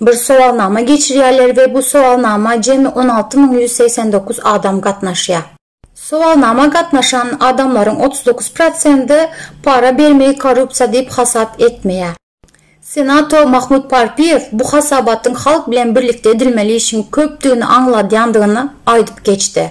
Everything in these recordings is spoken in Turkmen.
bir sowalnama geçirýärler we bu sowalnama jemi on alty müň ýüz segsen dokuz adam gatnaşýar. Sowalnama gatnaşan adamlaryň otuz dokuz prosendi para bermegi korrupsiýa diýip hasap etmeýär. Senator Mahmud Parpiýew bu hasabatyň halk bilen birlikde edilmeli işiň köpdügini aňladýandygyny aýdyp geçdi.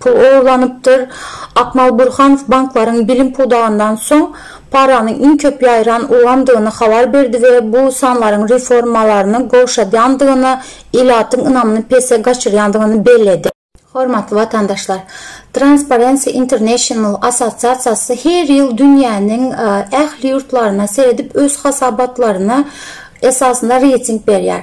pul ogurlanypdyr. Akmal Burhanow banklaryň bilim pudagyndan soň paranyň iň köp ýaýran ulgamdygyny habar berdi we bu sanlaryň reformalaryny gowşadýandygyny, ilatyň ynamyny pese gaçyrýandygyny belledi. Hormatly watandaşlar! Transparency International assosiasiýasy her ýyl dünýäniň ähli ýurtlaryna seredip öz hasabatlaryna esasynda reýting berýär.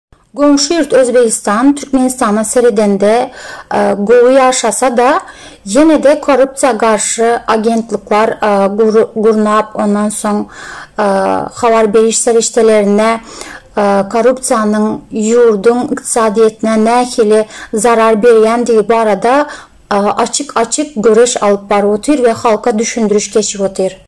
Goňşy ýurt Özbegistan Türkmenistana seredende gowy ýaşasa-da, ýene-de korrupsiýa garşy agentlikler gurnap, ondan soň habar beriş serişdelerine korrupsiýanyň ýurduň ykdysadyýetine nähili zarar berýändigi barada açyk-açyk göreş alyp baryp otyr we halka düşündiriş geçip otyr.